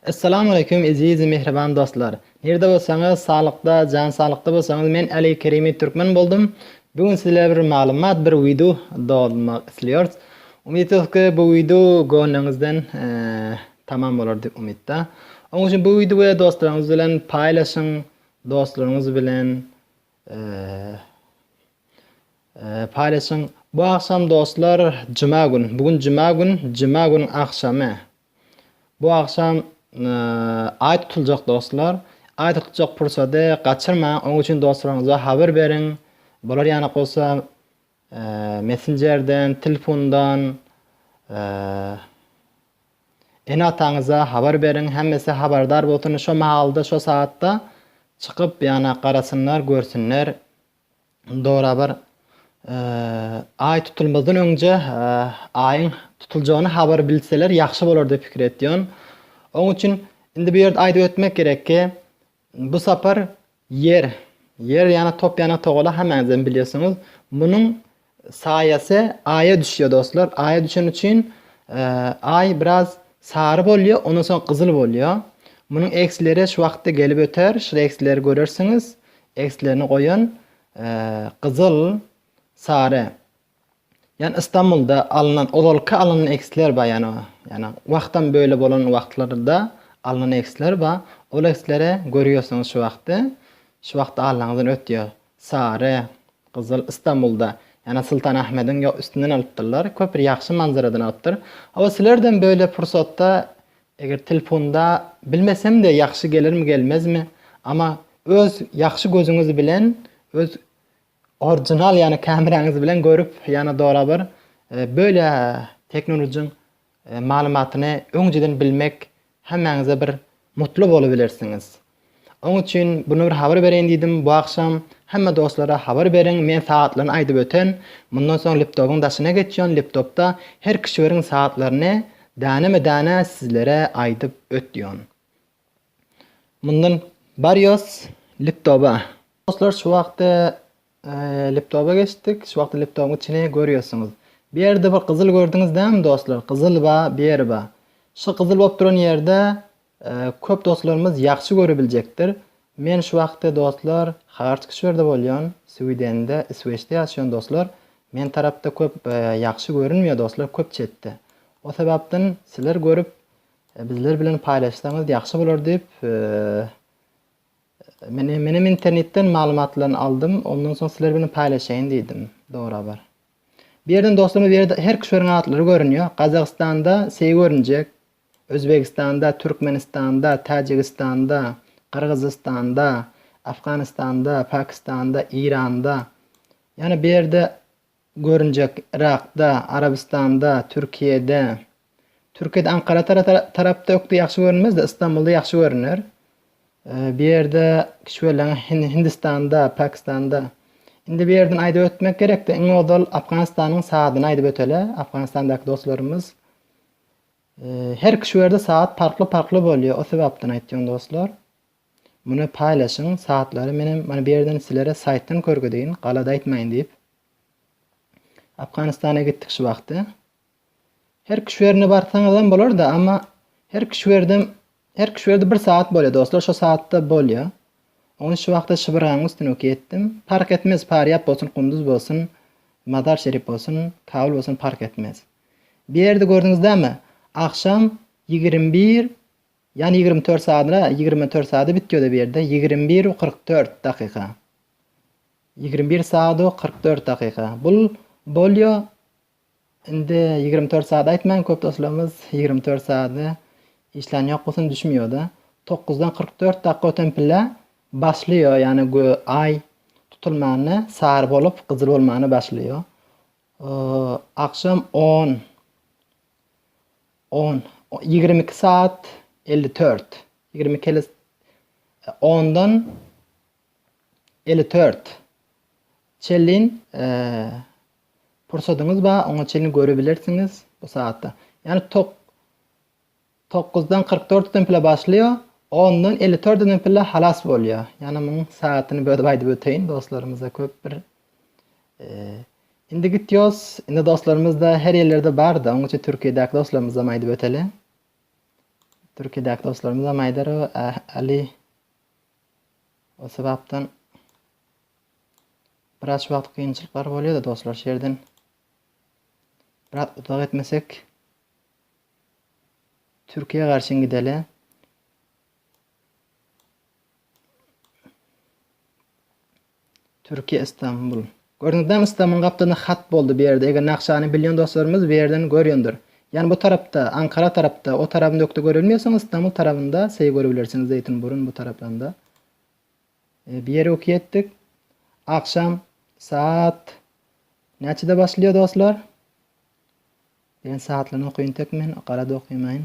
Essalamu aleýkum eziz mähriban dostlar! Nirde bolsaňyz saglykda jan saglykda bolsaňyz men Aly Kerimi Türkmen boldum. Bu gün sizler bir maglumat bir wideo dolmak isliyorys. Umyt ediyorys ki bu wideo gönlüňizden tamam bolar dip umytda. Onuň üçin bu wideoya dostlaryňyz bilen paýlaşyň dostlaryňyz bilen paýlaşyň. Bu agşam dostlar juma gün. Bu gün juma gün juma günüň agşamy Bu agşam Aý tutuljak dostlar. Aý tutuljak pursady gaçyrmaň, oň üçin dostlaryňyza habar beriň. Bolar ýanak bolsa messenjerden, tilfundan ene-ataňyza habar beriň, hemmesi habardar bolsun, şo mahalda, şo sagatda çykyp ýanak garasynlar, görsünler Dorabar Aý tutulmazdan öňje Aýyň tutuljagyny habar bilseler ýagşy bolar diýip pikir etýän. Oň üçin indi bu ýerde aýdyp ötmek gerek ki, bu sapar Ýer, Ýer ýana top ýana togala hemmäňizem bilýärsiňiz. Munuň Saýasy aýa düşýär dostlar. Aýa düşeni üçin aý biraz sary bolýar, ondan soň gyzyl bolýar. Munuň eksleri şu wagtda gelip öter. Şu eksleri görersiňiz. Ekslerini goýan gyzyl, sary. Ýani Istanbulda alnan, ozalky alnan eksler bar ýani. Ýani wagtam böyle bolan wagtlarda alnan eksler bar. Ol eksleri görýärsiňiz şu wagty. Şu wagty alanyňyzdan ötýär. Sary, gyzyl, Istanbulda, ýa-da Sultanahmediň ýok üstünden alypdyrlar. Köp bir ýagşy manzaradan alypdyr. Hawa, sizlerden böyle pursatda eger telpunda bilmesem-de ýagşy gelirmi gelmezmi, ama öz ýagşy gözüňiz bilen öz orjinal ýa-da kameraňyz bilen görüp ýa-da dora bir böyle teknolujyň maglumatyny öňjeden bilmek hemmäňize bir mutly bolubilersiňiz. Oň üçin bunu bir habar bereýin diýdim bu agşam. Hemme dostlara habar beriň, men sagatlaryny aýdyp öten. Mundan soň liptobyň daşyna geçýän liptopda her kişiweriň sagatlaryny däneme däne sizlere aýdyp ötýän. Mundan barýos liptoba. Dostlar şu wagty Laptopa geçdik. Şu wagty laptopyň içini görýärsiňiz. Bu ýerde bir gyzyl gördüňiz dämi dostlar? Gyzyl ba, beri ba. Şu gyzyl bolup duran ýerde köp dostlarymyz ýagşy görebiljekdir. Men şu wagty dostlar Hartk şerde bolýan, Swidende, Isweçde ýaşaýan dostlar. Men tarapda köp ýagşy görünmeýär dostlar, köp çetde. O sebapden sizler görüp bizler bilen paýlaşsaňyz ýagşy bolar diýip Men menem internetden maglumatlaryny aldym, ondan soň sizler bilen paýlaşaýyn diýdim. Dogry habar. Bu ýerden dostlarymyz bu ýerde her küşeriň atlary görünýär. Gazagystanda seý görünjek, Özbegistanda, Türkmenistanda, Täjigistanda, Gyrgyzystanda, Afganistanda, Pakistanda, Eýranda. Ýani bu ýerde Görünjek Yrakda, Arabystanda, Türkiýede. Türkiýede Ankara tarapda ökde ýagşy görünmez-de, Ystambulda ýagşy görüner. Bu ýerde kişweleň Hindistanda, Pakistanda. Indi bu ýerden aýdyp ötmek gerekdi. Iň ozal Afganistanyň saatyn aýdyp öteli, Afganistandaky dostlarymyz. Her kişwerde saat parkly-parkly bolýar, o sebapdan aýtýan dostlar. Muny paýlaşyň satlary menem mana bu ýerden silere saýtdan körgezeýin galada aýtmaýyn diýip Afganistana gitdik şu wagty. Her küşwerine barsaňyzam bolarda amma her küşwerdem her küşwerde bir saat bolýar dostlar şo saatda bolýar. Ony şu wagta şybranyň üstüne ok etdim. Park etmez Parýap bolsun Kunduz bolsun Mazar Şerif bolsun Kabul bolsun park etmez. Bir ýerde gördüňizdämi agşam ýigrimi bir Ýan ýigrimi dört sadyna ýigrimi dört sada bitýoda bu ýerde ýigrimi bir u kyrk dört dakyka ýigrimi bir sad u kyrk dört dakyka bul bolýo indi ýigrimi dört sad aýtmaň köp doslarymyz ýigrimi dört sady işlän ýok gusyn düşmýoda dokuzdan kyrk dört dakyka öten pille başlaýo ýagny gö aý tutulmany sary bolup gyzyl bolmany başlaýo agşam on On, ýigrimi iki saat elli tört, ýigrimi iki ele ondan ele tört çelin pursadyňyz bar, oňa çelin görebilersiňiz bu saatda. Ýani tok, tokuzdan kyrk dört den pile başlaýa, ondan ele tört den pile halas bolýa. Ýani muň saatyny bölüp aýdyp öteýin, dostlarymyza köp bir Indi gitýos. Indi dostlarymyzda her ýerlerde barda. Onuň üçin Türkiýedäki dostlarymyzam aýdyp öteli. Türkiýedäki dostlarymyzam aýdar o Ali o sebapdan biraz wagt kynçylyklar bolýar da dostlar şu ýerden biraz uzak etmesek Türkiýe garşyn gideli. Türkiye Istanbul. Gördiňizlämi Islamyň gapdalyna hat boldy bu ýerde eger nakşany bilýän dostlarymyz bu ýerden görýändir. Ýani bu tarapda Ankara tarapda o tarabyny ökde görelmeýäsoň Istanbul tarabynda seý görebilersiňiz Zeýtinburun bu taraplanda. E, bir ýeri öki etdik. Agşam saat näçede başlaýar dostlar? Diýen saatlaryny okuyun tek men garada okuýmaýyn.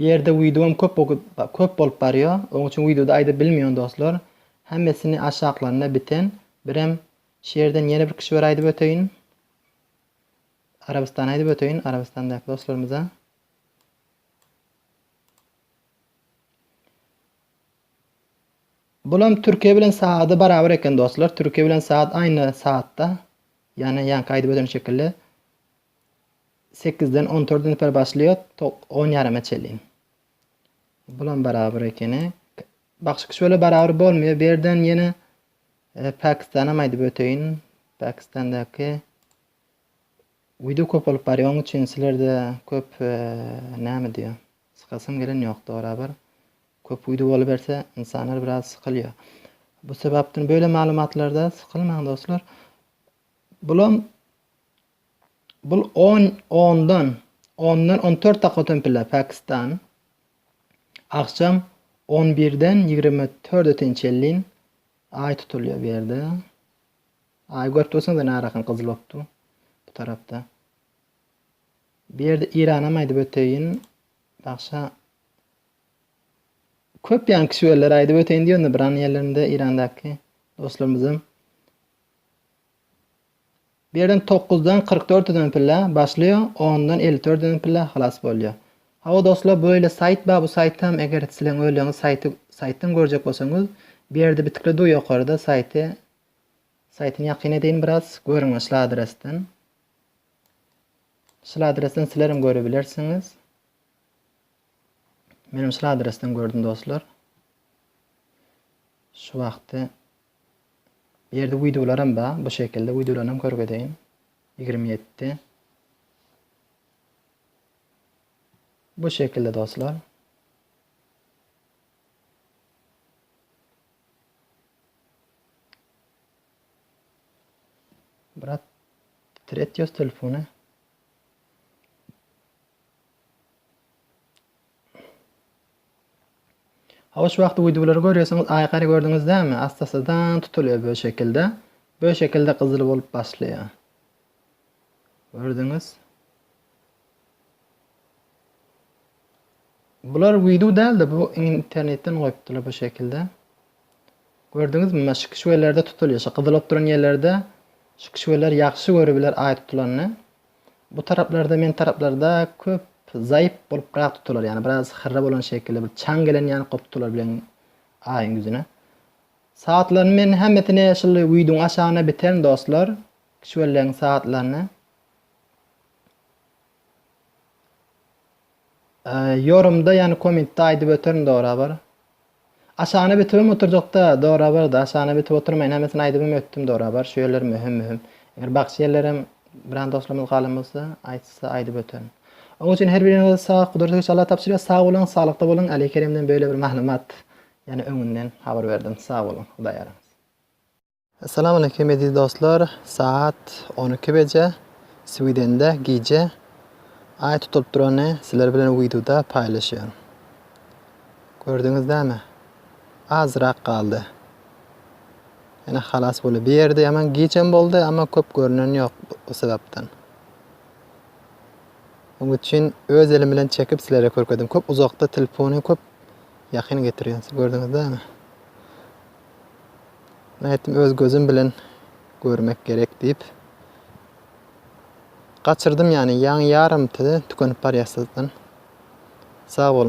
Bu ýerde wideom köp köp bolup barýo oň üçin wideoda aýdyp bilmion dostlar hemmesini aşaklarynda biten birem şu ýerden ýene bir kişiber aýdyp öteýin Arabystany aýdyp öteýin Arabystandaky dostlarymyza Bulam Türkiýe bilen saady barabar eken dostlar Türkiýe bilen saat aýna saatda ýany ýanky aýdyp öten şekilli Sekizden on törde neper başlaýar, to on ýarama çelin. Bulam barabar ekeni. Bagşy kişöle barabar bolmaýar. Berden ýene e, Pakistanam aýdyp öteýin. Pakistandaky wideo köp bolup barýar, onuň üçin sizlerde köp e, näme diýýär? Sykasym gelen ýok barabar. Köp wideo boluberse, insanlar biraz sykylýar. Bu sebapden böyle maglumatlarda sıkılmaň dostlar. Bulam Bul on ondan ondan on dört dakika ötempiler Pakistan agşam on birden ýigrimi törde tençellin Aý tutulýar bu ýerde. Aý görüp dursaňyz ene arakan gyzyl bolup dur bu tarapda. Bu ýerde Iranam aýdyp öteýin. Bagşa köp ýan kişiwelleri aýdyp öteýin diýende bir an ýerlerinde Irandaky dostlarymyzam Birden togkuzdan kyrk dört özen pille başlaýa ondan elli dört özen pille halas bolýa. Hawa dostlar bu öýle saýt bar bu saýtam eger sileň öýleňiz saýty saýtdan görjek bolsaňyz bu ýerde bitikli dur ýokarda saýty saýtyny ýakyn edeýin biraz görüňiz şul adresden. Şul adresden silerem görebilersiňiz. Menem şul adresden gördüm dostlar. Şu wagty Bu ýerde wideolaram bar. Bu şekilde wideolaryny hem körgezeýin. Ýigrimi ýedi. Bu şekilde dostlar. Brat, tret ýöz telefony. Hawa şu wagty wideolary görýärsiňiz aýkary gördüňiz dämi astasadan tutulýar bö şekilde bö şekilde gyzyl bolup başlaýar gördüňiz bular wideo dälde bu internetden goýupdylar bu şekilde gördüňizmi maş şu kişwelerde tutulýar şu gyzyl bolup duran ýerlerde şu kişweler ýagşy görübiler aý tutulanyny Bu taraplarda men taraplarda köp zaýyp boluprak tutular ýani biraz hyrra bolan şekilli bir çaň gelen ýani kop tutular bilen aýyň ýüzüne. Sagatlaryny men hemmesini şuly widuň aşagyna biterin dostlar. Kişwelleň sagatlaryny. Ýorumda ýani komentde aýdyp öterin dorabar. Aşagna bitibem oturjakda dorabarda aşagna bitip oturmaýyn hemmesini aýdybam ötdüm dorabar şu ýerler möhüm möhüm. Eger bagşy ýerlerem biran dostlarymyz galan bolsa aýtsa aýdyp öterin. Oň üçin her biriňize sag Gudratly güç Allah tabşyrýar sag boluň saglykda boluň Aly Keremden böyle bir maglumat ýani öňünden habar berdim sag boluň Hudaý ýaranysyn. Salam aleýkum eziz dostlar saat on iki beje swidende gije aý tutulyp durany sizler bilen widuda paýlaşýan gördüňiz dämi azrak galdy ýene halas bolýa bir ýerde ýaman gijem boldy ama köp görünen ýok bu sebapdan oň üçin öz elim bilen çekip sizlere körkedim köp uzakda telefony köp ýakyn getirýän siz gördüňiz dämi Nätdim, öz gözüm bilen görmek gerek diýip. Gaçyrdym ýany, ýaňy ýarym tükenip barýar syzdan. Sag boluň.